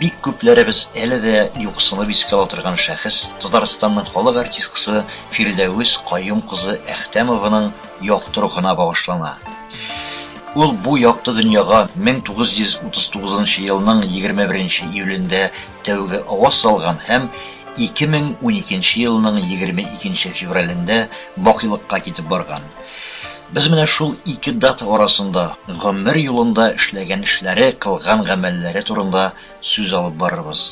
Бик күпләребез әле дә юксынып искә ала торган шәхес, Татарстанның халык артисткасы Фирдәвес Каюм кызы Әхтәмованың якты рухына багышлана. Ул бу якты дөньяга 1939 елның 21 июлендә тәүге аваз салган һәм 2012 елның 22 февралендә бакыйлыкка китеп барган. Без менә шул ике дата арасында гомер юлында эшләгән эшләре, кылган гамәлләре турында сүз алып барырбыз.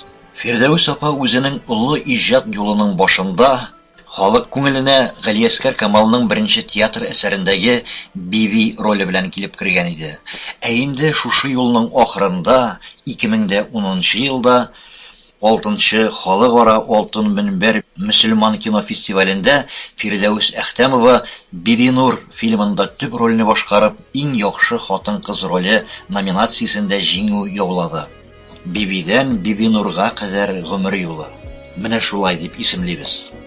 Фирдәвес апа үзенең олы иҗат юлының башында халык күңеленә Галиәсгар Камалның беренче театр әсәрендәге Биби роле белән килеп кергән иде. Ә инде шушы юлның ахырында, ике мең дә унынчы елда Алтынчы Халыкара Алтын мөнбәр мөселман кинофестивалендә Фирдәвес Әхтәмова Бибинур фильмында төп рольне башкарып, иң яхшы хатын-кыз роле номинациясендә җиңү яулады. Бибидән Бибинурга кадәр гомер юлы. Менә шулай дип исемлибез.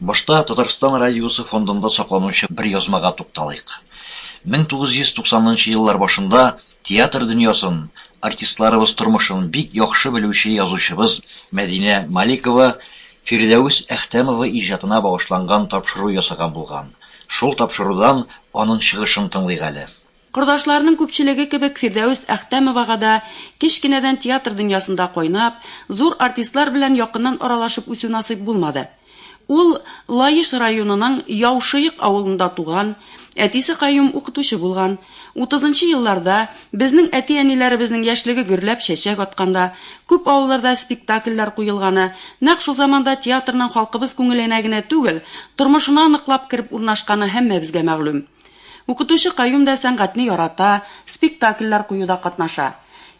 Башта Татарстан радиосы фондында сакланучы бер язмага тукталыйк. 1990 нчы еллар башында театр дөньясын, артистларыбыз тормышын бик яхшы белүче язучыбыз Мәдинә Маликова Фирдәвес Әхтәмова иҗатына багышланган тапшыру ясаган булган. Шул тапшырудан аның чыгышын тыңлыйк әле. Кордашларының күпчелеге кебек Фирдәвес Әхтәмовага да кечкенәдән театр дөньясында кайнап, зур артистлар белән якыннан аралашып үсү насыйп булмады. Ул Лаеш районының Яушыек авылында туган, әтисе каюм укытучы булган. Утызынчы елларда, безнең әти-әниләребезнең яшьлеге гөрләп чәчәк атканда, күп авылларда спектакльләр куелганы, нәкъ шул заманда театрның халкыбыз күңеленә генә түгел, тормышына ныклап кереп урнашканы һәммәбезгә мәгълүм. Укытучы Каюм да сәнгатьне ярата, спектакльләр куюда катнаша.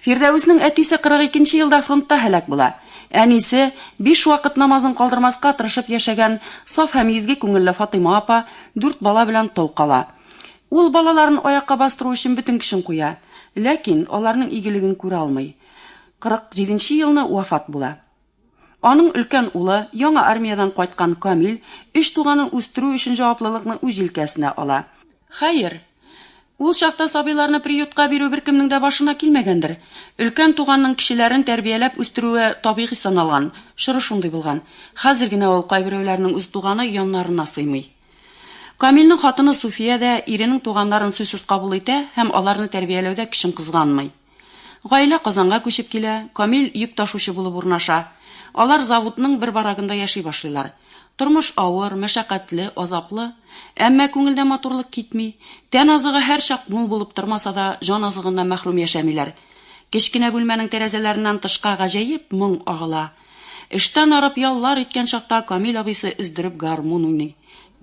Фирдәвеснең әтисе 42 нче елда фронтта һәлак була. Әнисе, биш вакыт намазын калдырмаска тырышып яшәгән саф һәм изге күңелле Фатыйма апа дүрт бала белән тол кала. Ул балаларын аякка бастыру өчен бөтен көчен куя. Ләкин аларның игелеген күрә алмый. 47 нче елны вафат була. Аның өлкән улы, яңа армиядән кайткан Камил, өч туганын үстерү өчен җаваплылыкны үз җилкәсенә ала. Хәер, ул чакта сабыйларны приютка бирү беркемнең дә башына килмәгәндер. Өлкән туганның кешеләрен тәрбияләп үстерүе табигый саналган. Чоры шундый булган. Хәзер генә ул кайберәүләрнең үз туганы яннарына сыймый. Камилнең хатыны Суфия дә иренең туганнарын сүзсез кабул итә һәм аларны тәрбияләүдә көчен кызганмый. Гаилә Казанга күчеп килә, Камил йөк ташучы булып урнаша. Алар заводның бер барагында яши башлыйлар. Тормыш авыр, мәшәкатьле, азаплы. Әмма күңелдә матурлык китми. Тән азыгы һәрчак мул булып тормаса да, җан азыгыннан мәхрүм яшәмиләр. Кечкенә бүлмәнең тәрәзәләреннән тышка гаҗәеп моң агыла. Эштән арып, яллар иткән чакта Камил абыйсы өздереп гармун уйный.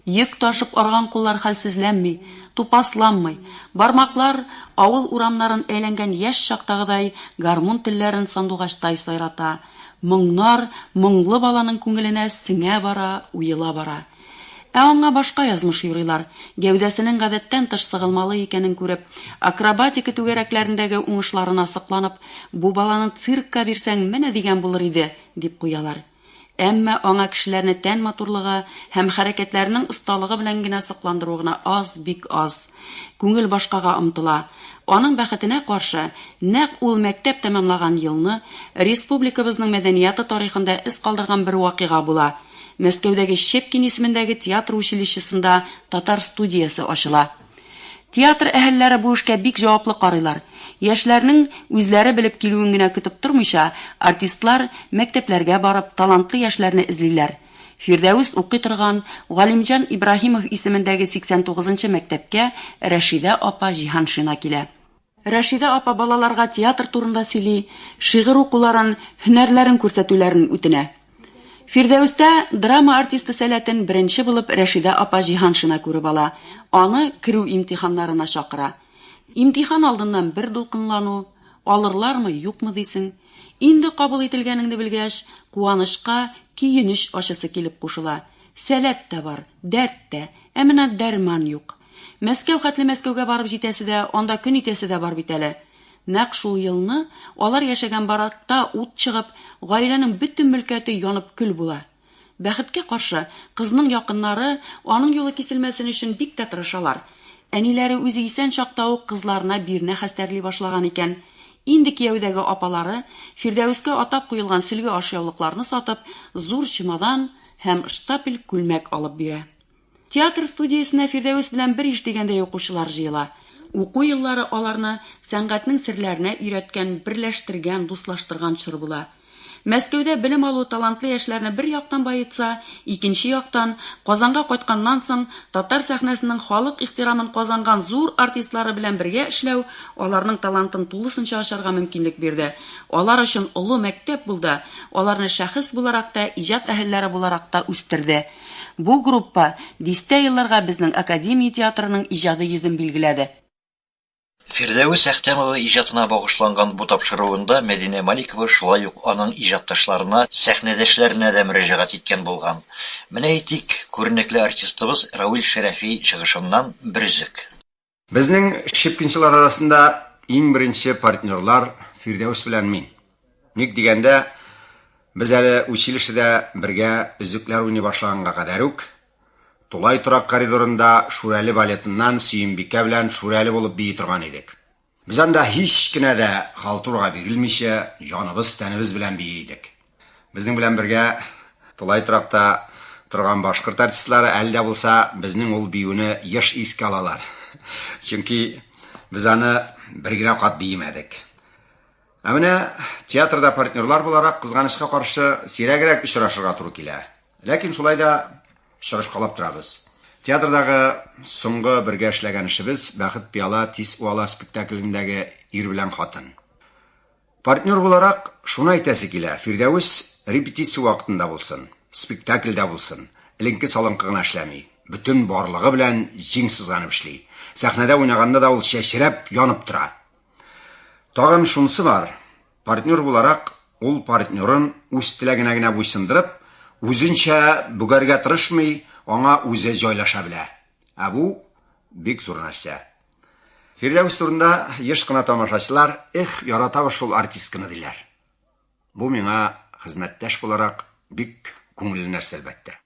Йөк ташып арган куллар хәлсезләнми, тупасламый. Бармаклар, авыл урамнарын әйләнгән яшь чактагыдай, гармун телләрен сандугачтай сайрата. Моңнар моңлы баланың күңеленә сеңә бара, уела бара. Ә аңа башка язмыш юрыйлар. Гәүдәсенең гадәттән тыш сыгылмалы икәнен күреп, акробатика түгәрәкләрендәге уңышларына сокланып, бу баланы циркка бирсәң, менә дигән булыр иде, дип куялар. Әмма аңа кешеләрне тән матурлыгы һәм хәрәкәтләренең осталыгы белән генә сокландыру гына аз, бик аз. Күңел башкага омтыла. Аның бәхетенә каршы, нәкъ ул мәктәп тәмамлаган елны республикабызның мәдәнияты тарихында эз калдырган бер вакыйга була. Мәскәүдәге Щепкин исемендәге театр училищесында татар студиясе ачыла. Театр әһелләре бу эшкә бик җаваплы карыйлар. Яшьләрнең үзләре белеп килүен генә көтеп тормыйча, артистлар мәктәпләргә барып талантлы яшьләрне эзлиләр. Фирдәвес укый торган Галимҗан Ибраһимов исемендәге 89 нчы мәктәпкә Рәшидә апа Җиһаншина килә. Рәшидә апа балаларга театр турында сөйли, шигырь укуларын, һөнәрләрен күрсәтүләрен үтенә. Фирдәвестә драма артисты сәләтен беренче булып Рәшидә апа Җиһаншина күреп ала, аны керү имтиханнарына чакыра. Имтихан алдыннан бер дулкынлану, алырлармы, юкмы дисең. Инде кабул ителгәнеңне белгәч, куанычка көенеч ачысы килеп кушыла. Сәләт тә бар, дәрт тә, ә менә дәрман юк. Мәскәү хәтле Мәскәүгә барып җитәсе дә, анда көн итәсе дә бар бит әле. Нәкъ шул елны, алар яшәгән баракта ут чыгып, гаиләнең бөтен мөлкәте янып көл була. Бәхеткә каршы, кызның якыннары аның юлы киселмәсен өчен бик тә тырышалар. Әниләре үзе исән чакта ук кызларына бирнә хәстәрли башлаган икән. Инде кияүдәге апалары, Фирдәвескә атап куелган сөлге ашъяулыкларны сатып, зур чемодан һәм штапель күлмәк алып бирә. Театр студиясенә Фирдәвес белән бер иш дигәндәй укучылар җыела. Уку еллары аларны сәнгатьнең серләренә өйрәткән, берләштергән, дуслаштырган чор була. Мәскәүдә белем алу талантлы яшьләрне бер яктан баетса, икенче яктан, Казанга кайтканнан соң, татар сәхнәсенең халык ихтирамын казанган зур артистлары белән бергә эшләү аларның талантын тулысынча ачарга мөмкинлек бирде, алар өчен олы мәктәп булды, аларны шәхес буларак та, иҗат әһелләре буларак та үстерде. Бу группа дистә елларга безнең академия театрының иҗади йөзен билгеләде. Фирдәвес Әхтәмова иҗатына багышланган бу тапшыруында Мәдинә Маликова шулай ук аның иҗатташларына, сәхнәдәшләренә дә мөрәҗәгать иткән булган. Менә әйтик, күренекле артистыбыз Равил Шәрәфи чыгышыннан бер өзек. Безнең щепкинчылар арасында иң беренче партнерлар Фирдәүс белән мин. Ник дигәндә, без әле училищеда бергә өзекләр уйный башлаганга кадәр үк, Тулай торак коридорында Шүрәле балетыннан Сөембикә белән Шүрәле булып бии торган идек. Без анда һич кенә дә халтурага бирелмичә, җаныбыз-тәнебез белән бии идек. Безнең белән бергә тулай торакта торган башкорт артистлары әле дә булса безнең ул биюне еш искә алалар. Чөнки без аны бер генә кат биемәдек. Ә менә театрда партнерлар буларак кызганычка каршы сирәгрәк очрашырга туры килә. Ләкин шулай да очрашкалап торабыз. Театрдагы соңгы бергә эшләгән эшебез Бәхет пиала тиз уала спектаклендәге Ир белән хатын. Партнер буларак, шуны әйтәсе килә, Фирдәвес репетиция вакытында булсын, спектакльдә булсын, эленке-салынкы гына эшләми, бөтен барлыгы белән җиң сызганып эшли. Сәхнәдә уйнаганда да ул чәчрәп, янып тора. Тагын шунысы бар, партнер буларак, ул партнерын үз теләгенә генә буйсындырып, үзенчә бөгәргә тырышмый, аңа үзе җайлаша белә. Ә бу, бик зур нәрсә. Фирдәүс турында еш кына тамашачылар, эх, яратабыз шул артистканы диләр. Бу миңа хезмәттәш буларак бик күңелле нәрсә, әлбәттә.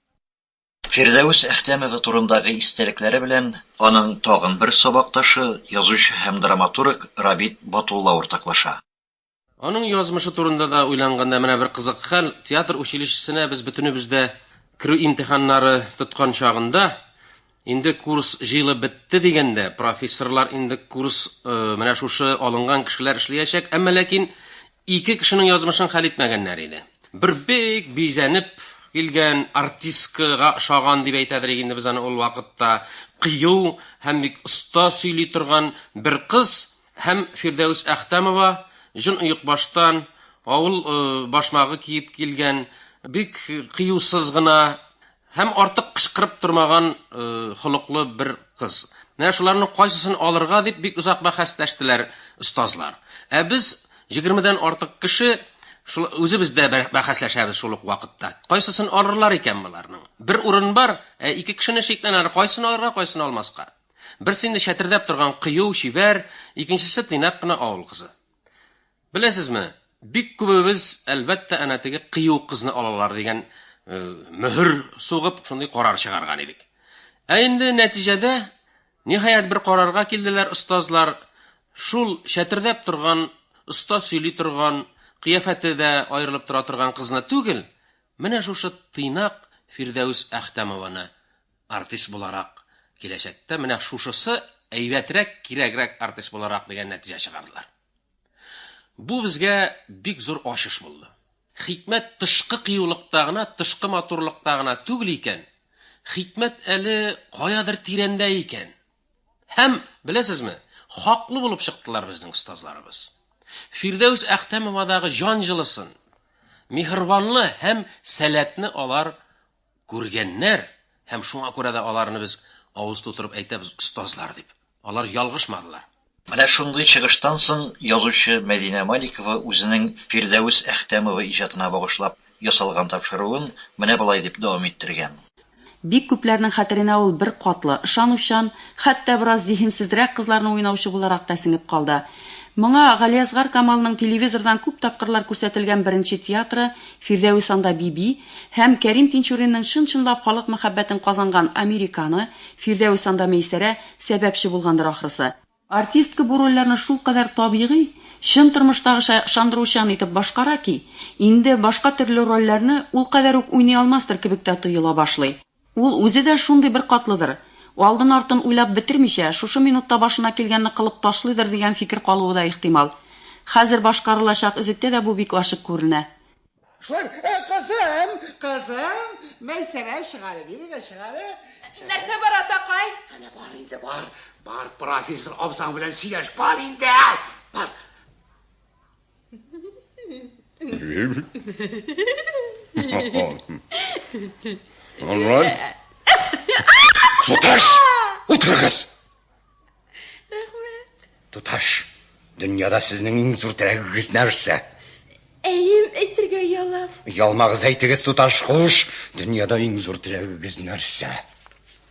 Фирдәүс Әхтәмова турындагы истәлекләре белән аның тагын бер сабакташы, язучы һәм драматург Рабит Батулла уртаклаша. Аның язмышы турында да уйланганда, менә бер кызык хәл, театр училищесына без бөтенебез дә керү имтиханнары тоткан чагында, инде курс җыелып бетте дигәндә, профессорлар инде курс менә шушы алынган кешеләр эшлиячәк, әмма ләкин ике кешенең язмышын хәл итмәгәннәр иде. Бер бик бизәнеп килгән артисткага ошаган дип әйтәдер инде без аны ул вакытта, кыю һәм бик оста сөйли торган бер кыз, Һәм Фирдәүс Әхтәмова җон оекбаштан авыл башмагы киеп килгән, бик кыюсыз гына һәм артык кычкырып тормаган холыклы бер кыз. Менә шуларның кайсысын алырга дип бик озак бәхәсләштеләр остазлар. Ә без, егермедән артык кеше, шул үзебез дә бәхәсләшәбез шул ук вакытта. Кайсысын алырлар икән боларның? Бер урын бар, ә ике кешене шикләнәләр, кайсын алырга, кайсын алмаска? Берсе инде чәтердәп торган кыю, чибәр, икенчесе тыйнак кына авыл кызы. Беләсезме, бик күбебез, әлбәттә, әнә теге кыю кызны алалар дигән мөһер сугып, шундый карар чыгарган идек. Ә инде нәтиҗәдә, ниһаять, бер карарга килделәр остазлар, шул чәтердәп торган, оста сөйли торган, кыяфәте дә аерылып тора торган кызны түгел, менә шушы тыйнак Фирдәүс Әхтәмованы Артист буларак, киләчәктә менә шушысы әйбәтрәк, кирәгрәк артист буларак дигән нәтиҗә чыгардылар. Бу безгә бик зур ачыш булды. Хикмәт тышкы кыюлыкта гына, тышкы матурлыкта гына түгел икән, хикмәт әле каядыр тирәндә икән. Һәм, беләсезме, хаклы булып чыктылар безнең остазларыбыз. Фирдәүс Әхтәмовадагы җан җылысын, миһербанлы һәм сәләтне алар күргәннәр һәм шуңа күрә дә аларны без авыз тутырып әйтәбез остазлар дип. Алар ялгышмадылар. Менә шундый чыгыштан соң язучы Мәдинә Маликова үзенең Фирдәвес Әхтәмова иҗатына багышлап ясалган тапшыруын менә болай дип дәвам иттергән. Бик күпләрнең хәтеренә ул беркатлы, ышанучан, хәтта бераз зиһенсезрәк кызларны уйнаучы буларак та сеңеп калды. Моңа Галиәсгар Камалның телевизордан күп тапкырлар күрсәтелгән беренче театры Фирдәвес анда Биби, Һәм Кәрим Тинчуринның чын-чынлап халык мәхәббәтен казанган Американо, Фирдәвес анда Мәйсәрә, сәбәпче булгандыр ахрысы. Артистка бу рольләрне шулкадәр табигый, чын тормыштагыча ышандыручан итеп башкара ки, инде башка төрле рольләрне ул кадәр үк уйный алмастыр кебек тә тоела башлый. Ул үзе дә шундый беркатлыдыр, алдын-артын уйлап бетермичә, шушы минутта башына килгәнне кылып ташлыйдыр дигән фикер калуы да ихтимал. Хәзер башкарылачак өзектә дә бу бик ачык күренә. Шулай бит, ә, кызым? Кызым, Мәйсәрә, чык әле, бирегә чык әле. Нәрсә бар, атакай? Әнә бар инде, бар. Бар, профессор абзаң белән сөйләш, бар инде, бар. Анлан. Туташ, утыргыз. Рәхмәт. Туташ, дөньяда сезнең иң зур теләгегез нәрсә? Әйем әйтергә ялам. Ялмагыз әйтегез, туташ, хуш. Дөньяда иң зур теләгегез нәрсә?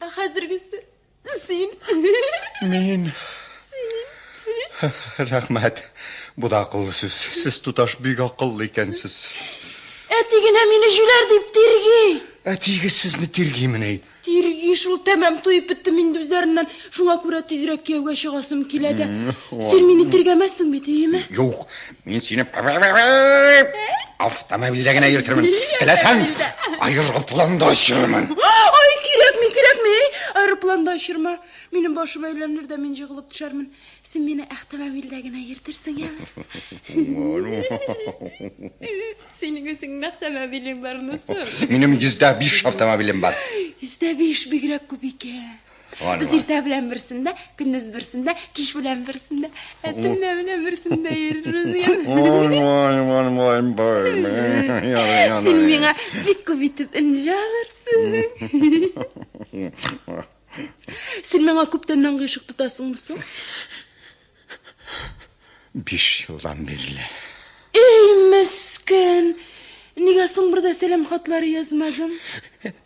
Ә хәзергесе син. Мин. Син. Рәхмәт. Бу да акыллы сүз. Сез туташ бик акыллы икәнсез. Әти генә мине җүләр дип тирги. Әтигез сезне тиргимени? Тирги шул тәмам туеп беттем инде үзләреннән. Шуңа күрә тизрәк кияүгә чыгасым килә дә. Син мине тиргәмәссең бит, иеме? Юк, Мин сине автомобильдә генә йөртермен. Теләсәң, аэропланда очырмын. Ай, кирәкми, кирәкми. Аэропланда очырма. Минем башым әйләнер дә мин җыгылып төшәрмен. Син мине автомобильдә генә йөртерсең, ә? Синең үзеңнең автомобилең бармы соң? Минем 105 автомобилем бар. 105 бигрәк күп икән. Без иртә белән берсендә, көндез берсендә, кич белән берсендә, ә төнлә белән берсендә йөрербез. Ой, ой, ой, ой, ой. Син миңа бик күп итеп энҗе алырсың. Син миңа күптән мәңге ишек тотасыңмы соң? Биш елдан бирле. Эй, мескен! Нигә соң бер дә сәлам хатлары язмадың?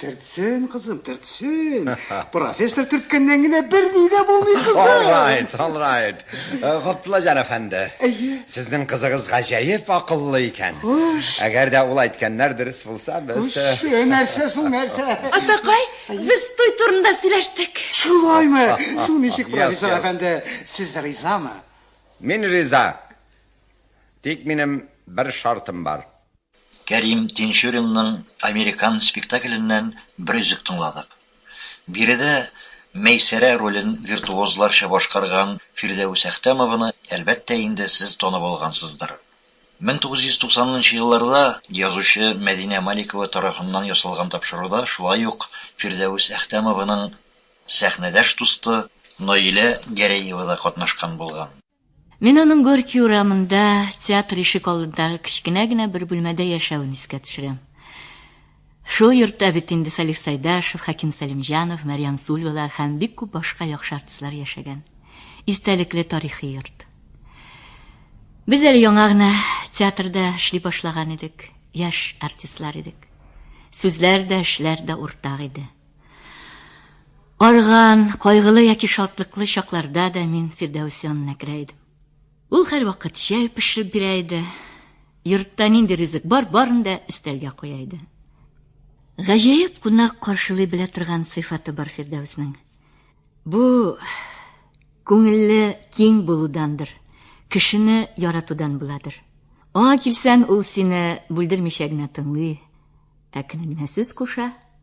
Төртсен, кызым, төртсен. Профессор төрткәннән генә берни дә булмый, кызым. All right, all right. Котлыҗан әфәнде. Әйе. Сезнең кызыгыз гаҗәеп акыллы икән. Хуш. Әгәр дә ул әйткәннәр дөрес булса, без Нәрсә соң, нәрсә? Атакай, без туй турында сөйләштек. Шулаймы? Соң ничек, профессор әфәнде, сез ризамы? Мин риза. Тик минем бер шартым бар. Кәрим Тинчуринның Американ спектакленнән бер өзек тыңладык. Биредә Мәйсәрә ролен виртуозларча башкарган Фирдәвес Әхтәмованы, әлбәттә инде, сез танып алгансыздыр. 1990 нчы елларда язучы Мәдинә Маликова тарафыннан ясалган тапшыруда шулай ук Фирдәвес Әхтәмованың сәхнәдәш дусты Наилә Гәрәева да катнашкан булган. Мин аның Горький урамында, театр ишек алдындагы кечкенә генә бер бүлмәдә яшәвен искә төшерәм. Шул йортта бит инде Салих Сайдашев, Хәким Сәлимҗанов, Мәрьям Сульвалар һәм бик күп башка яхшы артистлар яшәгән. Истәлекле тарихи йорт. Без әле яңа гына театрда эшли башлаган идек, яшь артистлар идек. Сүзләр дә, эшләр дә уртак иде. Арыган, кайгылы яки шатлыклы чакларда да мин Фирдәүсә янына керә идем. Ул һәрвакыт чәй пешереп бирә иде. Йортта нинди ризык бар, барын да өстәлгә куя иде. Гаҗәеп кунак каршылый белә торган сыйфаты бар Фирдәүснең. Бу күңелле киң булудандыр, кешене яратудан буладыр. Аңа килсәң, ул сине бүлдермичә генә тыңлый, ә көненә сүз куша.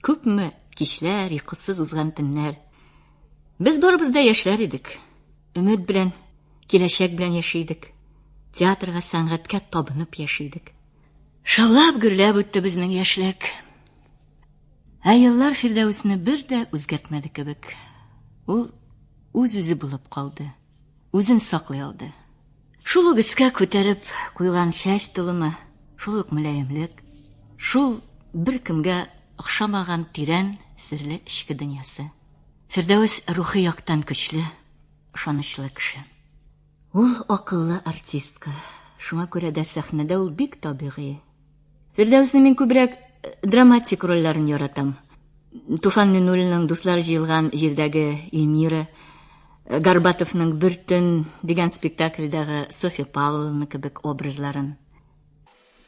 Күпме кичләр, йокысыз узган төннәр. Без барыбыз да яшьләр идек. Өмет белән, киләчәк белән яши идек. Театрга, сәнгатькә табынып яши идек. Шаулап гөрләп үтте безнең яшьлек. Ә еллар Фирдәүсне бер дә үзгәртмәде кебек. Ул үз-үзе булып калды. Үзен саклый алды. Шул ук өскә күтәреп куйган чәч толымы, шул ук мөлаемлек, шул бер кемгә охшамаган тирән серле эчке дөньясы. Фирдәвес рухи яктан көчле, ышанычлы кеше. Ул акыллы артистка, шуңа күрә дә сәхнәдә ул бик табигый, Фирдәүсне мин күбрәк драматик рольләрен яратам. Туфан Минуллинның Дуслар җыелган җирдәге Эльмира, Горбатовның Бөртен дигән спектакльдәге Софья Павловна кебек образларын.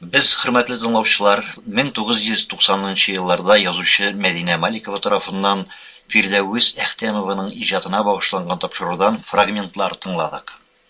Без, хөрмәтле тыңлаучылар, 1990 нчы елларда язучы Мәдинә Маликова тарафыннан Фирдәвес Әхтәмованың иҗатына багышланган тапшырудан фрагментлар тыңладык.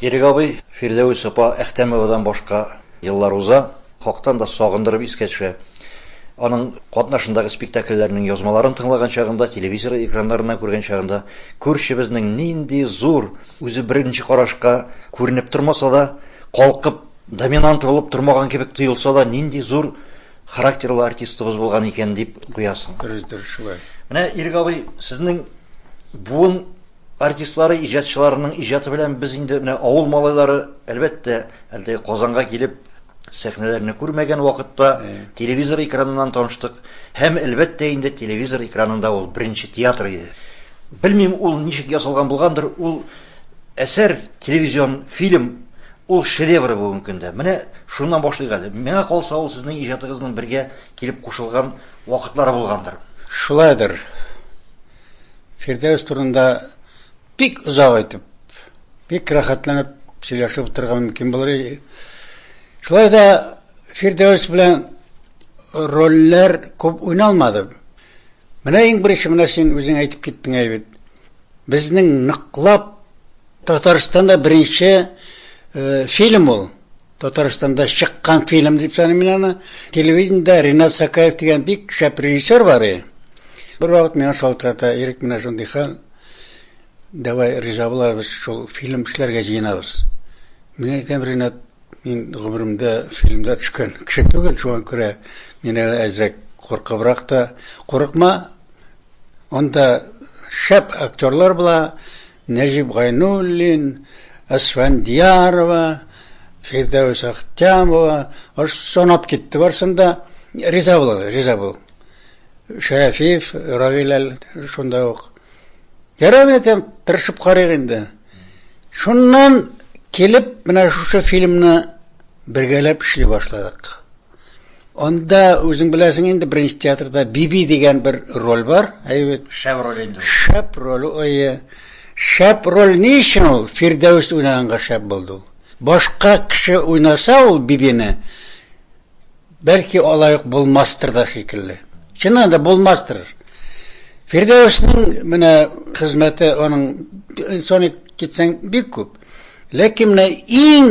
Ирек абый, Фирдәвес апа Әхтәмовадан башка еллар уза, хактан да сагындырып искә төшә. Аның катнашындагы спектакльләрнең язмаларын тыңлаган чагында, телевизор экраннарыннан күргән чагында, күршебезнең нинди зур, үзе беренче карашка күренеп тормаса да, калкып, доминант булып тормаган кебек тоелса да, нинди зур характерлы артистыбыз булган икән дип куясың. Дөрес, дөрес, шулай. Менә, Ирек абый, сезнең буын Артистлары, иҗатчыларының иҗаты белән без инде менә авыл малайлары, әлбәттә, әле Казанга килеп, сәхнәләрне күрмәгән вакытта телевизор экраныннан таныштык һәм, әлбәттә инде, телевизор экранында ул беренче театр иде. Белмим, ул ничек ясалган булгандыр, ул әсәр, телевизион фильм, ул шедевр бүгенге көндә. Менә шуннан башлыйк әле. Миңа калса, ул сезнең иҗатыгызның бергә килеп кушылган вакытлары булгандыр. Шулайдыр. Фирдәүс турында бик озак әйтеп, бик рәхәтләнеп сөйләшеп утырырга мөмкин булыр иде. Шулай да Фирдәүс белән рольләр күп уйналмады. Менә иң беренче менә син үзең әйтеп киттең әй бит. Безнең ныклап Татарстанда беренче э, фильм ул. Татарстанда чыккан фильм дип саныйм мин аны. Телевидениедә Ринат Сакаев дигән бик шәп режиссер бар и. Бер вакыт миңа шалтырата, Ирек, менә шундый хәл. Давай риза булабыз, шул фильм эшләргә җыенабыз. Мин әйтәм, Ринат, мин гомеремдә фильмда төшкән кеше түгел, шуңа күрә мин әле әзрәк куркыбрак та. Курыкма, Анда шәп актерлар була, Нәҗип Гайнуллин, Әсфәндиярова, Фирдәвес Әхтямова, аш санап китте барсын да, риза булалар, риза бул. Шәрәфиев, Равиләл шунда ук. Ярар әйтәм, тырышып карыйк инде. Шуннан килеп, менә шушы фильмны бергәләп эшли башладык. Анда үзең беләсең инде беренче театрда Биби дигән бер роль бар. Әйбәт. Шәп роль инде. Шәп роль, ое. Шәп роль ни өчен ул? Фирдәүс уйнаганга шәп булды ул. Башка кеше уйнаса ул Бибине, бәлки алай ук булмастыр да шикелле. Чыннан да булмастыр. Фирдәүснең менә хезмәте аның соник китсәң бик күп. Ләкин менә иң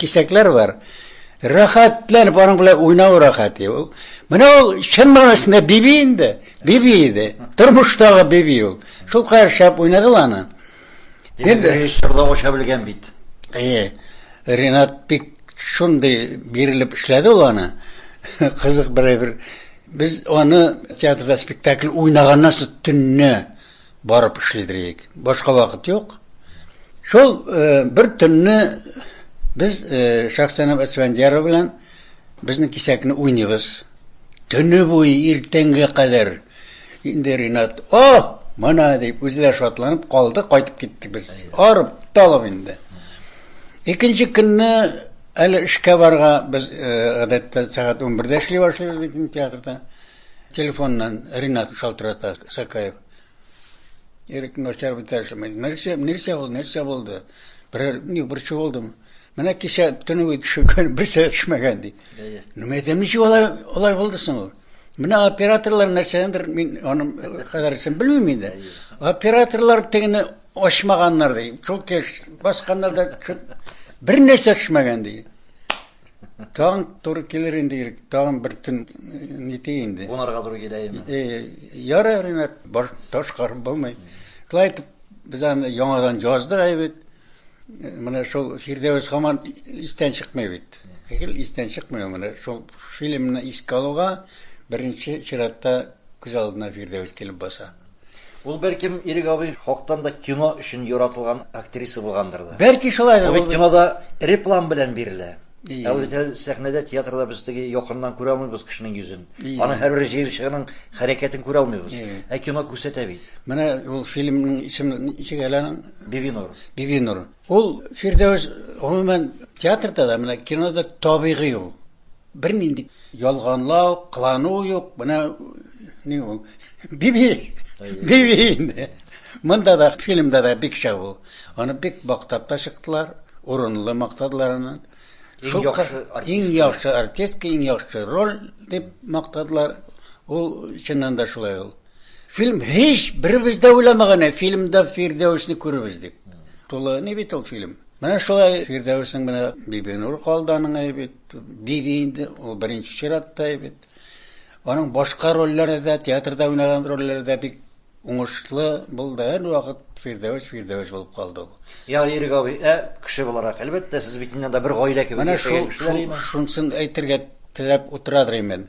Кисәкләр бар. Рәхәтләнеп аның белән уйнау рәхәт. Менә ул чын мәгънәсендә биби инде. Биби иде. Тормыштагы биби ул. Шул кадәр шәп уйнады ла аны. Димәк, режиссер да оча белгән бит. Әйе. Ренат бик шундый бирелеп эшләде ул аны. Кызык бер без аны театрда спектакль уйнаганнан соң төнне барып эшлидер идек. Башка вакыт юк. Шул бер төнне без Шахсәнәм Әсфәндиярова белән безнең кисәкне уйныйбыз. Төне буе иртәнгә кадәр инде Ринат, "О, мына" дип үзе дә шатланып калды, кайтып киттек без. Арып, талып инде. Икенче көнне әле эшкә барга без гадәттә сәгать 11-дә эшли башлыйбыз бит театрда. Телефоннан Ринат шалтырата Сакаев. Ирек начар бетершем. Нәрсә, нәрсә булды, нәрсә булды? Берәр ни борчу булдым. Менә кичә төневи төшергән, берсә төшмәгән ди. Ну, мәдәм ничек алай, алай булды соң ул? Менә операторлар нәрсәдәндер, мин аның хәбәрсен белмим инде. Операторлар тегене ачмаганнар ди. Шул кеш басканнар да бер нәрсә төшмәгән ди. Тагын туры килер инде ирек, тагын бер төн нити инде. Кунарга туры килә инде. Э, ярар, Ринат, баш таш карып булмый. Шулай итеп, без аны яңадан яздык әйбит. Э, менә шул Фирдәвес хаман истән чыкмый бит. Гел истән чыкмый менә шул фильмны искә алуга беренче чиратта Күз алдына Фирдәвес килеп баса. Ул, бәлкем, Ирек абый хактан да кино өчен яратылган актриса булгандыр да. Бәлки шулайдыр. Ул бит кинода реплам белән бирелә. Әлбәттә, сәхнәдә, театрда без теге якыннан күрә алмыйбыз кешенең йөзен. Аның һәрбер җыелышыгының хәрәкәтен күрә алмыйбыз. Ә кино күрсәтә бит. Менә ул фильмның исеме ничек әле аның? Бибинур. Бибинур. Ул Фирдәвес гомумән театрда да, менә кинода табигый ул. Бернинди ялганлау, кылану юк. Менә ни ул? Биби. Биби инде. Монда да фильмда да бик шәп ул. Аны бик мактап та чыктылар, урынлы мактадылар аны. Шул иң яхшы артистка, иң яхшы роль дип мактадылар. Ул чыннан да шулай ул. Фильм һич беребез дә уйламаган, ә фильмда Фирдәүсне күребез дип. Тулы ни бит ул фильм. Менә шулай Фирдәүснең менә Бибинур калданың әйбит, Биби инде ул беренче чиратта әйбит. Аның башка рольләре дә, театрда уйнаган рольләре дә бик уңышлы булды. Һәр вакыт Фирдәүс, Фирдәүс булып калды ул. Я Ирек абый, ә кеше буларак, әлбәттә, сез бит инде анда бер гаилә кебек яшәгән кешеләр. Менә шул шунсын әйтергә теләп утырадыр мен.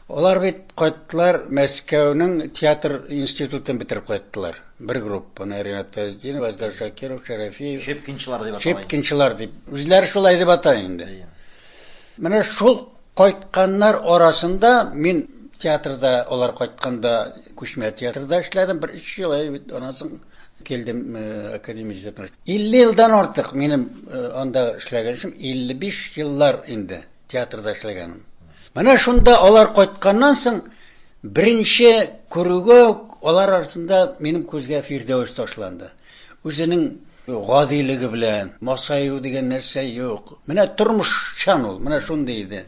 Алар бит кайттылар, Мәскәүнең театр институтын бетереп кайттылар. Бер группаны, Ринат Таҗетдинов, Әсгар Шакиров, Шәрәфиев. Щепкинчылар дип атала инде. Щепкинчылар дип. Үзләре шулай дип ата инде. Әйе. Менә шул кайтканнар арасында мин театрда, алар кайтканда күчмә театрда эшләдем, бер өч ел, әйе бит, аннан соң килдем академия җитәкче. 50 елдан артык минем анда эшләгәнчем, 55 еллар инде театрда эшләгәнем. Менә шунда алар кайтканнан соң, беренче күрүгә үк алар арасында минем күзгә Фирдәвес ташланды. Үзенең гадилеге белән, масаю дигән нәрсә юк. Менә тормышчан ул, менә шундый иде.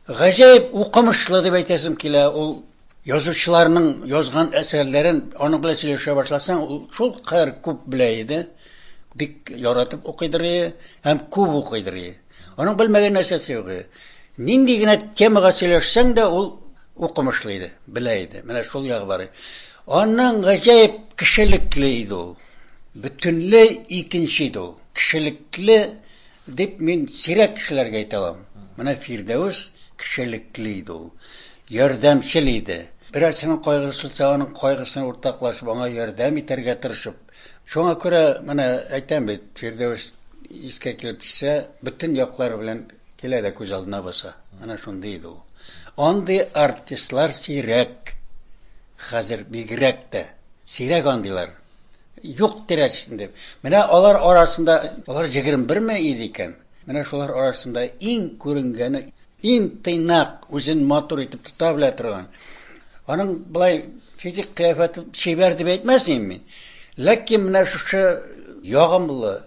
Гаҗәеп укымышлы дип әйтәсем килә, ул Язучыларның язган әсәрләрен аның белән сөйләшә башласаң, ул шул кадәр күп белә иде, бик яратып укыйдыр иде һәм күп укыйдыр иде. Аның белмәгән нәрсәсе юк иде. Нинди генә темага сөйләшсәң дә, ул укымышлы иде, белә иде. Менә шул ягы бар. Аның гаҗәеп кешелекле иде ул. Бөтенләй икенче иде ул. Кешелекле Дип мин сирәк кешеләргә әйтә алам. Менә Фирдәвес кешелекле иде ул. Ярдәмчел иде. Берәрсенең кайгысы килсә, аның кайгысын уртаклашып, аңа ярдәм итәргә тырышып. Шуңа күрә, менә әйтәм бит, Фирдәвес искә килеп китсә, бөтен яклары белән килә дә күз алдына баса. Менә шундый иде ул. Андый артистлар сирәк. Хәзер бигрәк тә сирәк андыйлар. Юк тирәсен дип. Менә алар арасында, алар 21 ме иде икән. Менә шулар арасында иң күренгәне, иң тыйнак, үзен матур итеп тота белә торган. Аның былай физик кыяфәте чибәр дип әйтмәсен мин. Ләкин менә шушы ягымлы,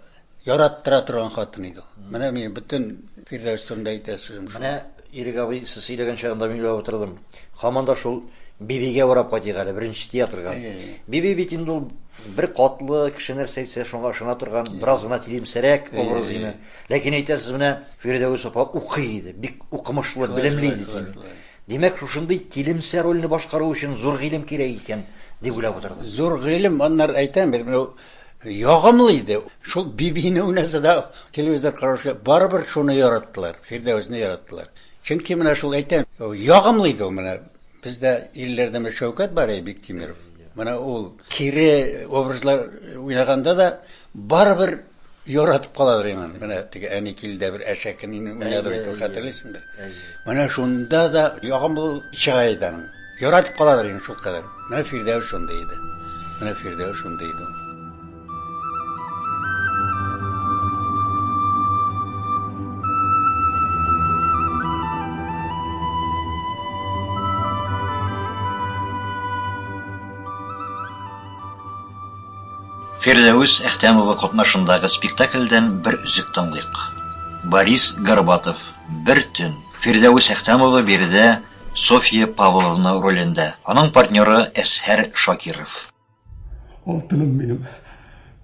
Яраттыра торган хатын иде ул. Менә мин бөтен Фирдәүс турында әйтер сүзем шул. Менә Ирек абый сез сөйләгән чагында мин уйлап утырдым. Һаман да шул Бибигә урап кайтыйк әле, беренче театрга. Биби бит инде ул бер катлы, кеше нәрсә әйтсә, шуңа ышана торган, бераз гына тилимсәрәк образ иде. Ләкин әйтәсез, менә Фирдәүс апа укый иде, бик укымышлы, белемле иде дисең. Димәк, шушындый тилемсә рольне башкару өчен зур гыйлем кирәк икән, дип уйлап утырдым. Зур гыйлем, аннары әйтәм бит, менә Ягымлы иде. Шул бибине уйнаса да, телевизор караучы барыбер шуны яраттылар, Фирдәүсне яраттылар. Чөнки менә шул әйтәм, ягымлы иде ул менә. Бездә илләрдә менә Шәүкәт бар иде Биктимеров. Менә ул кире образлар уйнаганда да барыбер яратып каладыр инде аны. Менә теге әни килде дә бер әшәкене уйнады бит, хәтерлисеңдер. Менә шунда да ягымлы чыга иде аның. Яратып калалар инде шул кадәр. Менә Фирдәүс шундый иде. Менә Фирдәүс шундый иде ул. Фирдәвис Әхтәмова катнашындагы спектакльдән бер үзек тыңлыйк. Борис Горбатов, Бер төн. Фирдәвис Әхтәмова биредә Софья Павловна ролендә, аның партнеры Әсһәр Шакиров. Алтыным минем,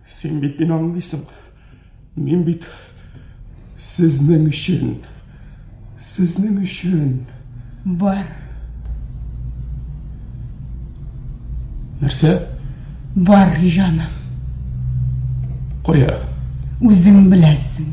син бит мине аңлыйсың. Мин бит сезнең өчен, сезнең өчен. Бар. Нәрсә? Бар, җаным. Кая? Үзең беләсең.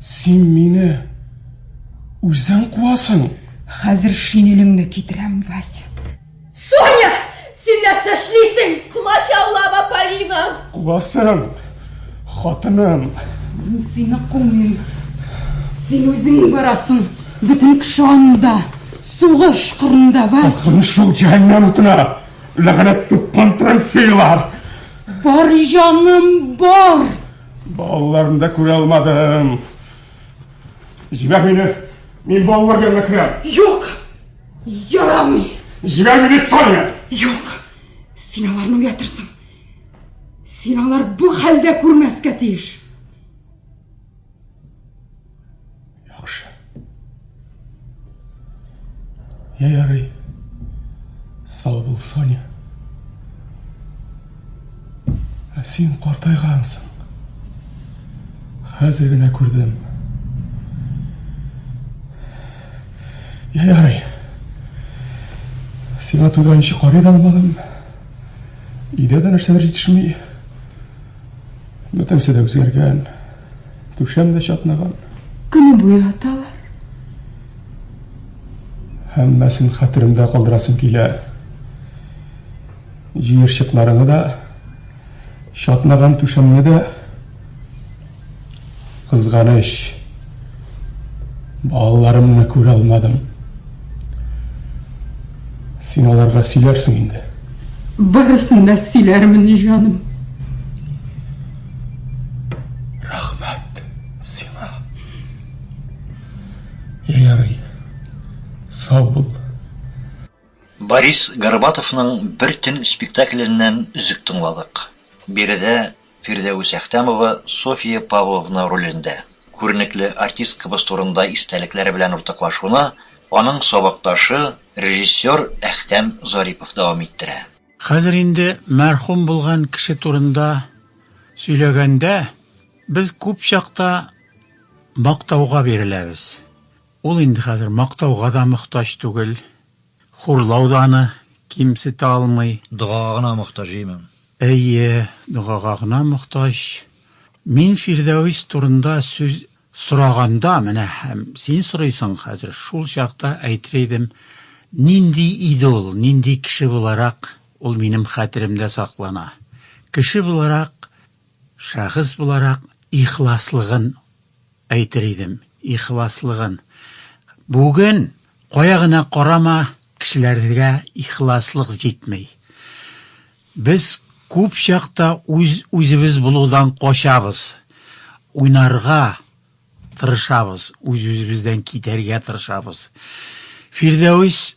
Син мине үзең куасың? Хәзер шинелеңне китерәм, Вась. Соня! Син нәрсә эшлисең? Комачаулама, Полина! Куасың, хатыным. Мин сине кумыйм. Син үзең барасың. Бөтен кеше анда. Сугыш кырында, Вась. Тагын шул җәһәннәм утына. Ләгънәт суккан трансилар! Бар җаным, бар! Балаларны да күрә алмадым. Җибәр мине. Мин балалар янына керәм. Юк! Ярамый! Җибәр мине, Саня! Юк! Син аларны уятырсың. Син алар бу хәлдә күрмәскә тиеш. Яхшы. Я ярый. Сау бул, Соня. Ә син картайгансың. Хәзер генә күрдем. Я ярый. Сиңа туйганчы карый да алмадым. Өйдә дә нәрсәләр җитешми. Бөтенсе дә үзгәргән. Түшәм дә чатнаган. Көне буе яталар. Һәммәсен хәтеремдә калдырасым килә. Җыерчыкларыңы да, чатнаган түшәмне дә. Кызганыч, балаларымны күрә алмадым. Син аларга сөйләрсең инде. Барысын да сөйләрмен, җаным. Рәхмәт сиңа. Ярый. Сау бул. Борис Горбатовның Бер төн спектакленнән өзек тыңладык. Биредә Фирдәвес Әхтәмова Софья Павловна ролендә күренекле артисткабыз турында истәлекләре белән уртаклашуны аның сабакташы, режиссер Әхтәм Зарипов дәвам иттерә. Хәзер инде мәрхүм булган кеше турында сөйләгәндә, без күп чакта мактауга биреләбез. Ул инде хәзер мактауга да мохтаҗ түгел, Хурлау да аны кимсетә алмый. Догага гына мохтаҗ, имем. Әйе, догага гына мохтаҗ. Мин Фирдәвес турында сүз сораганда, менә һәм син сорыйсың хәзер, шул чакта әйтер идем, нинди иде ул, нинди кеше буларак ул минем хәтеремдә саклана. Кеше буларак, шәхес буларак ихласлыгын әйтер идем, ихласлыгын. Бүген Кая гына карама, кешеләргә ихласлык җитми. Без күп чакта үз-үзебез булудан качабыз, уйнарга тырышабыз, үз-үзебездән китәргә тырышабыз. Фирдәвис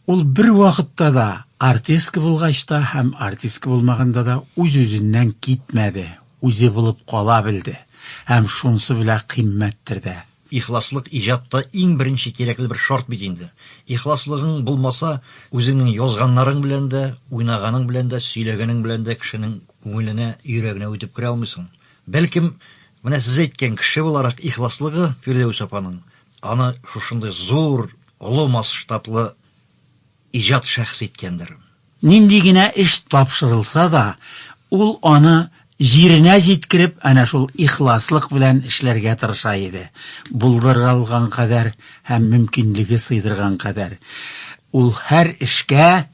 ул бервакытта да артистка булгач та һәм артистка булмаганда да үз-үзеннән китмәде, үзе булып кала белде һәм шунысы белән кыйммәттер дә. Ихласлык иҗатта иң беренче кирәкле бер шарт бит инде. Ихласлыгың булмаса, үзеңнең язганнарың белән дә, уйнаганың белән дә, сөйләгәнең белән дә кешенең күңеленә, йөрәгенә үтеп керә алмыйсың. Бәлкем, менә сез әйткән кеше буларак ихласлыгы Фирдәвес апаның аны шушындый зур, олы масштаблы, иҗат шәхес иткәндер. Нинди генә эш тапшырылса да, ул аны җиренә җиткереп, әнә шул ихласлык белән эшләргә тырыша иде. Булдырылган кадәр һәм мөмкинлеге сыйдырган кадәр ул һәр эшкә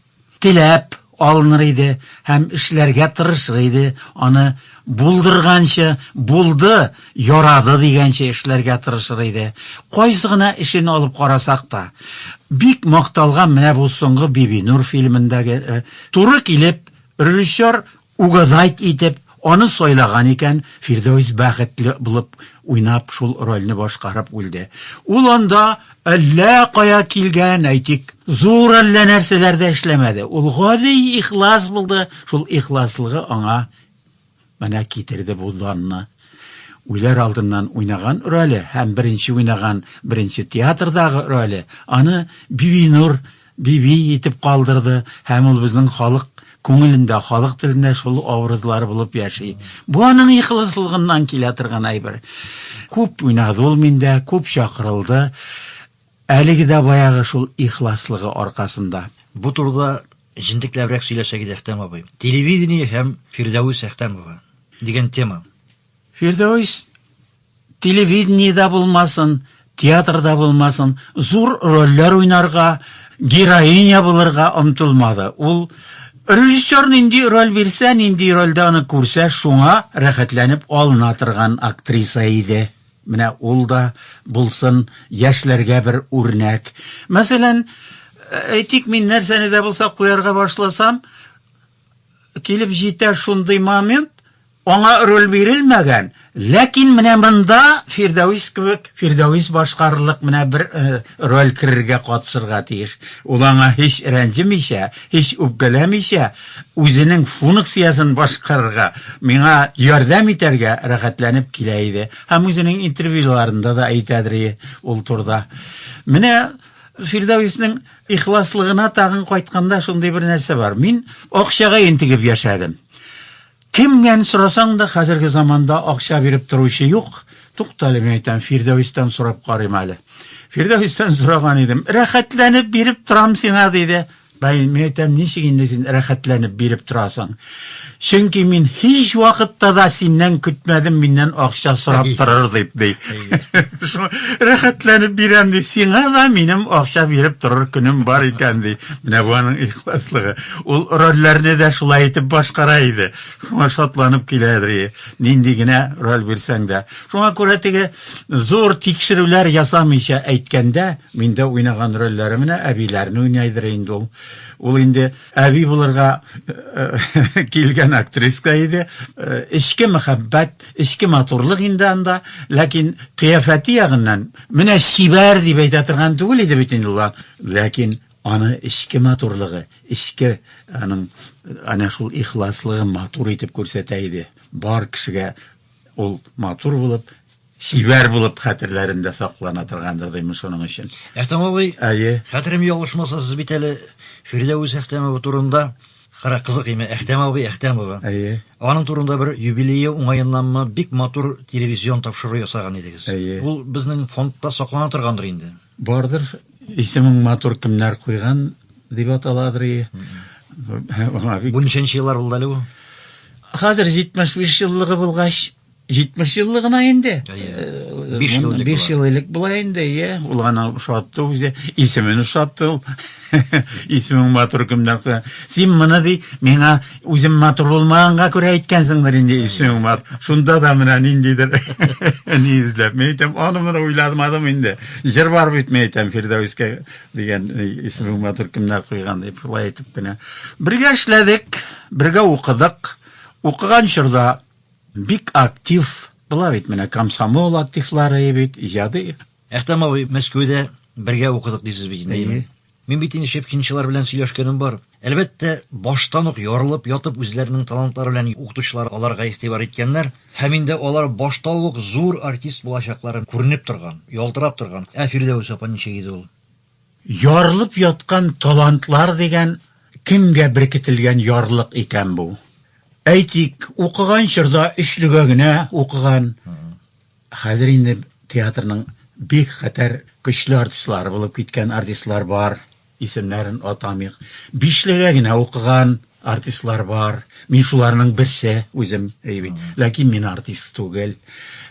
теләп алыныр иде һәм эшләргә тырышыр иде, аны. Булдырганчы, булды, ярады дигәнче эшләргә тырышыр иде. Кайсы гына эшен алып карасак та, бик макталган менә бу соңгы Бибинур фильмындагы э, туры килеп, режиссер угадайт итеп аны сайлаган икән, Фирдәүс бәхетле булып уйнап шул рольне башкарып үлде. Ул анда әллә кая килгән, әйтик, зур әллә нәрсәләрдә эшләмәде. Ул гади ихлас булды, шул ихласлыгы аңа Менә китерде бу данны. Үләр алдыннан уйнаган роле һәм беренче уйнаган беренче театрдагы роле аны Бибинур Биби итеп калдырды һәм ул безнең халык күңелендә, халык телендә шул образлар булып яши. Бу аның ихласлыгыннан килә торган әйбер. Күп уйнады ул миндә, күп чакырылды. Әлеге дә баягы шул ихласлыгы аркасында. Бу турыда җентекләбрәк сөйләсәк иде, Әхтәм абый. Телевидение һәм Фирдәвес Әхтәмова дигән тема. Фирдәвес телевидениедә булмасын, театрда булмасын, зур рольләр уйнарга, героиня булырга омтылмады. Ул режиссер нинди роль бирсә, нинди рольдә аны күрсә, шуңа рәхәтләнеп алына торган актриса иде. Менә ул да булсын яшьләргә бер үрнәк. Мәсәлән, әйтик, мин нәрсәне дә булса куярга башласам, килеп җитә шундый момент, аңа роль бирелмәгән, ләкин менә монда Фирдәвис кебек, Фирдәвис башкарырлык менә бер э, роль керергә катышырга тиеш. Ул аңа һич рәнҗемичә, һич үпкәләмичә, Үзенең функциясен башкарырга, миңа ярдәм итәргә рәхәтләнеп килә иде. Һәм үзенең интервьюларында да әйтәдер ул турда. Менә Фирдәвиснең ихласлыгына тагын кайтканда шундый бер нәрсә бар. Мин акчага интегеп яшәдем. Кемнән сорасаң да хәзерге заманда акча биреп торучы юк. Туктале мин әйтәм, Фирдәвистән сорап карыйм әле. Фирдәвистән сораган идем. Рәхәтләнеп биреп торам сиңа, диде. Бай, мин әйтәм, ничек инде син рәхәтләнеп биреп торасың? Чөнки мин һич вакытта да синнән көтмәдем, миннән акча сорап торыр дип, ди. Рәхәтләнеп бирәм, ди, сиңа да минем акча биреп торыр көнем бар икән, ди. Менә бу аның ихласлыгы. Ул рольләрне дә шулай итеп башкара иде. Шуңа шатланып киләдер. нинди генә роль бирсәң дә. Шуңа күрә теге зур тикшерүләр ясамыйча әйткәндә, миндә уйнаган рольләре менә әбиләрне уйнайдыр инде ул. Ул инде әби булырга э, килгән актриска иде. Э, эчке мәхәббәт, эчке матурлык инде анда, ләкин кыяфәте ягыннан менә чибәр дип әйтә торган түгел иде бит инде ул. Ләкин Аны эчке матурлыгы, эчке аның әнә шул ихласлыгы матур итеп күрсәтә иде. Бар кешегә ул матур булып, чибәр булып хәтерләрендә саклана торган Дадыймы шуның өчен? Әхтәм абый, Әйе. хәтерем ялгышмаса, сез бит әле Фирдәвес Әхтәмова турында, кара, кызык име, Әхтәм абый Әхтәмова, Әйе. аның турында бер юбилее уңаеннанмы бик матур телевизион тапшыру ясаган идегез. Әйе. Ул безнең фондта саклана торгандыр инде? Бардыр исемең матур кемнәр куйган дип аталадыр и. Бу ничәнче еллар булды әле бу? Хәзер 75 еллыгы булгач, 70 еллык гына инде. 5 ел элек була инде, я. Ул аны ошатты үзе, исемен ошатты ул. Исемең матур кемнән куя? Син моны ди, миңа үзем матур булмаганга күрә әйткәнсеңдер инде исемең мат. Шунда да менә ниндидер ни эзләп. Мин әйтәм, аны моны уйламадым инде. Җыр бар бит, мин әйтәм, Фирдәвескә дигән э, исемең матур кемнәр куйган дип, шулай итеп кенә. Бергә эшләдек, бергә укыдык. Укыган чорда бик актив була бит менә комсомол активлары бит, иҗади Әхтәм абый, Мәскәүдә бергә укыдык дисез бит инде. Әйе. Мин бит инде щепкинчылар белән сөйләшкәнем бар. Әлбәттә, баштан ук ярылып ятып үзләренең талантлары белән укытучылар аларга игътибар иткәннәр. Һәм инде алар башта ук зур артист булачаклары күренеп торган, ялтырап торган. Ә Фирдәвес апа ничек иде ул? Ярылып яткан талантлар дигән кемгә беркетелгән ярлык икән бу? Әйтик, укыган чорда өчлегә генә укыган, Хәзер инде театрның бик хәтәр көчле артистлары булып киткән артистлар бар, исемнәрен атамыйк. Бишлегә генә укыган артистлар бар. Мин шуларның берсе үзем, әй бит. Ләкин мин артист түгел.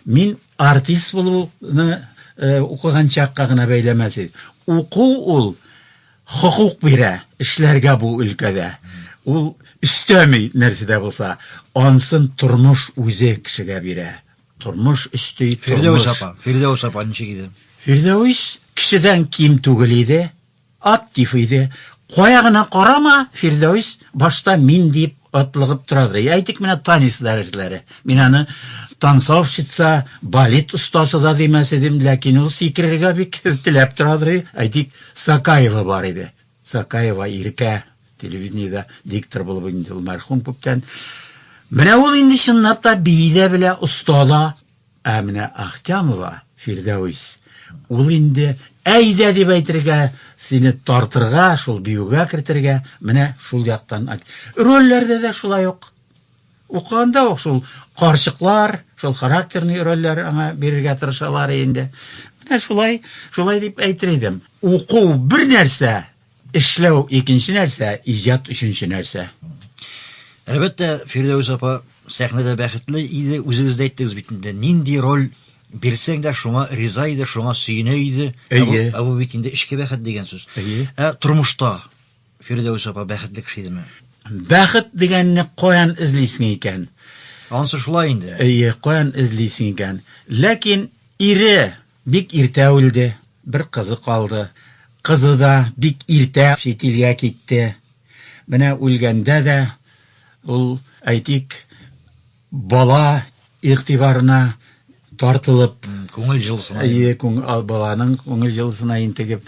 Мин артист булуны э, укыган чакка гына бәйләмәс идем. Уку ул хокук бирә эшләргә бу өлкәдә. Ул өстәми нәрсә дә булса, ансын тормыш үзе кешегә бирә. Тормыш өсти, тормыш. Фирдәвис апа, Фирдәвис апа ничек иде? Фирдәвис кешедән ким түгел иде, актив иде. Кая гына карама, Фирдәвис башта мин дип атлыгып торадыр. Әйтик, менә танец дәресләре. Мин аны танцовщица, балет остасы да димәс идем, ләкин ул сикерергә бик теләп торадыр. Әйтик, Сакаева бар иде. Закаева Иркә телевидениедә диктор булып инде ул мәрхүм күптән. Менә ул инде чынлап та бии дә белә, оста да. Ә менә Ахтямова Фирдәвис, ул инде әйдә дип әйтергә, сине тартырга, шул биюгә кертергә, менә шул яктан. Рольләрдә дә шулай ук. Укыганда ук шул карчыклар, шул характерный рольләр аңа бирергә тырышалар инде. Менә шулай, шулай дип әйтер идем. Уку бер нәрсә, эшләү икенче нәрсә, иҗат өченче нәрсә. Әлбәттә, Фирдәүс апа сәхнәдә бәхетле иде, үзегез дә әйттегез бит инде, нинди роль бирсәң дә шуңа риза иде, шуңа сөенә иде. Ә бу бит инде эчке бәхет дигән сүз. Ә тормышта Фирдәүс апа бәхетле кеше идеме? Бәхет дигәнне каян эзлисең икән? Ансы шулай инде. Әйе, каян эзлисең икән? Ләкин ире бик иртә үлде, бер кызы калды. Кызы да бик иртә чит илгә китте. Менә үлгәндә дә ул, әйтик, Бала игътибарына тартылып. Күңел җылысына. Әйе, баланың күңел җылысына интегеп,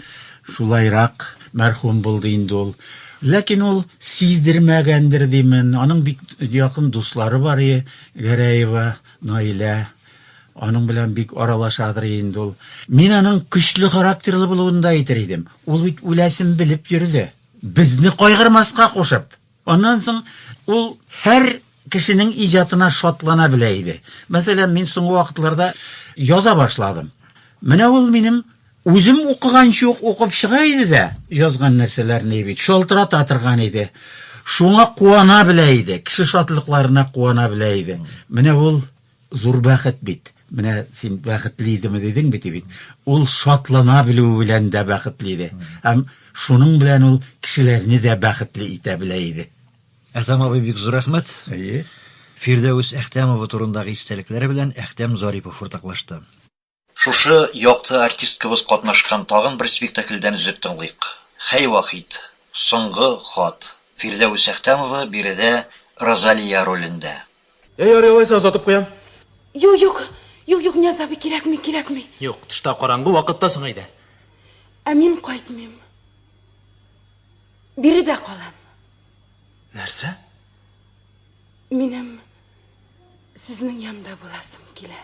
шулайрак мәрхүм булды инде ул. Ләкин ул сиздермәгәндер димен, аның бик якын дуслары бар и, Гәрәева Наилә. Аның белән бик аралашадыр и инде ул. Мин аның көчле характерлы булуын да әйтер идем. Ул бит үләсен белеп йөрде. Безне кайгырмаска кушып. Аннан соң ул һәр кешенең иҗатына шатлана белә иде. Мәсәлән, мин соңгы вакытларда яза башладым. Менә ул минем үзем укыганчы ук укып чыга иде дә, язган нәрсәләрне бит шалтырата торган иде. Шуңа куана белә иде, кеше шатлыкларына куана белә иде. Менә ул Зур бәхет бит. Менә син бәхетле идеме дидең бит, бит. Ул шатлана белүе белән дә бәхетле иде. Һәм шуның белән ул кешеләрне дә бәхетле итә белә иде. Әхтәм абый бик зур рәхмәт. Әйе. Фирдәвес Әхтәмова турындагы истәлекләре белән Әхтәм Зарипов уртаклашты. Шушы якты артисткабыз катнашкан тагын бер спектакльдән өзек тыңлыйк. Хәй вахит. Соңгы хат. Фирдәвес Әхтәмова биредә Розалия ролендә. Йә, ярый алайса, озатып куям. Юк, юк, юк, юк, Нияз абый, кирәкми, кирәкми. Юк, тышта караңгы, вакытта соң әйдә. Ә мин кайтмыйм. Биредә калам. Нәрсә? Минем сезнең янда буласым килә.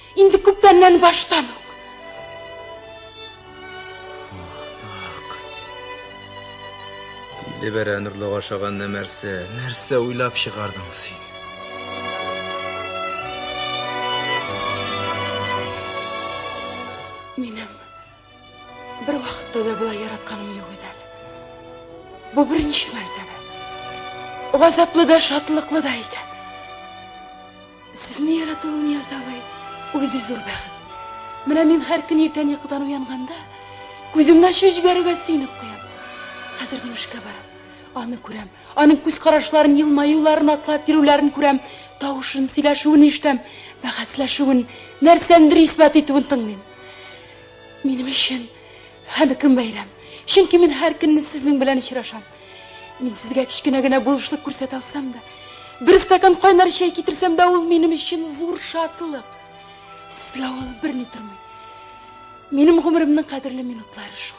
Инде күптәннән баштан ук. Ахмак. Тиле бәрән орлык ашаган нәмәрсә, нәрсә уйлап чыгардың син? Бер вакытта да болай яратканым юк иде әле. Бу беренче мәртәбә. Газаплы да, шатлыклы да икән. Сезне ярату ул Нияз абый, үзе зур бәхет. Менә мин һәр көн иртән йокыдан уянганда, күземне ачып җибәрүгә сөенеп куям. Хәзер дөмешкә барам. Аны күрәм. Аның күз карашларын, елмаюларын, атлап йөрүләрен күрәм. Тавышын, сөйләшүен ишетәм. Бәхәсләшүен, нәрсәндер исбат итүен тыңлыйм. Минем өчен һәр көн бәйрәм. Чөнки мин һәр көнне сезнең белән очрашам. Мин сезгә кечкенә генә булышлык күрсәтә алсам да, бер стакан кайнар чәй китерсәм дә, ул минем өчен зур шатлык. Сезгә ул берни тормый. Минем гомеремнең кадерле минутлары шул.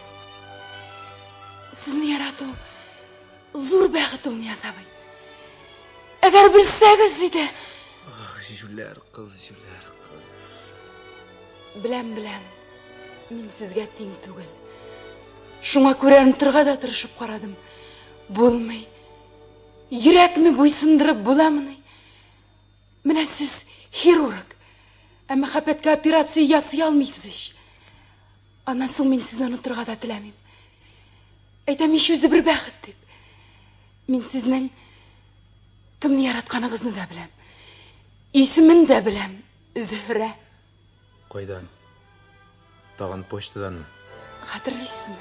Сезне ярату зур бәхет ул, Нияз абый. Әгәр белсәгез иде. Ах, җүләр кыз, җүләр кыз. Беләм, беләм. Мин сезгә тиң түгел. Шуңа күрә онтырга да тырышып карадым. Булмый. Йөрәкне буйсындырып буламыни? Менә сез хирург. Ә мәхәббәткә операция ясый алмыйсыз ич. Аннан соң мин сезне онытырга да теләмим. Әйтәм ич үзе бер бәхет дип. Мин сезнең кемне яратканыгызны да беләм. Исемен дә беләм. Зөһрә. Кайдан? Тагын почтаданмы? Хәтерлисезме?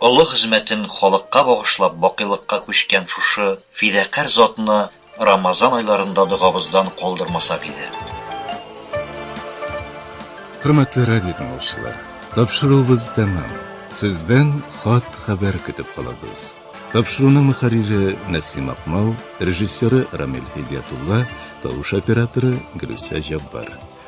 Олы хезмәтен халыкка багышлап бакыйлыкка күчкән шушы фидакарь затны Рамазан айларында догабыздан калдырмасак иде. Хөрмәтле радио тыңлаучылар, тапшыруыбыз тәмам. Сездән хат-хәбәр көтеп калабыз. Тапшыруның мөхәррире Нәсим Акмал, режиссеры Рамил Һидиятулла, тавыш операторы Гөлүсә Җәббар.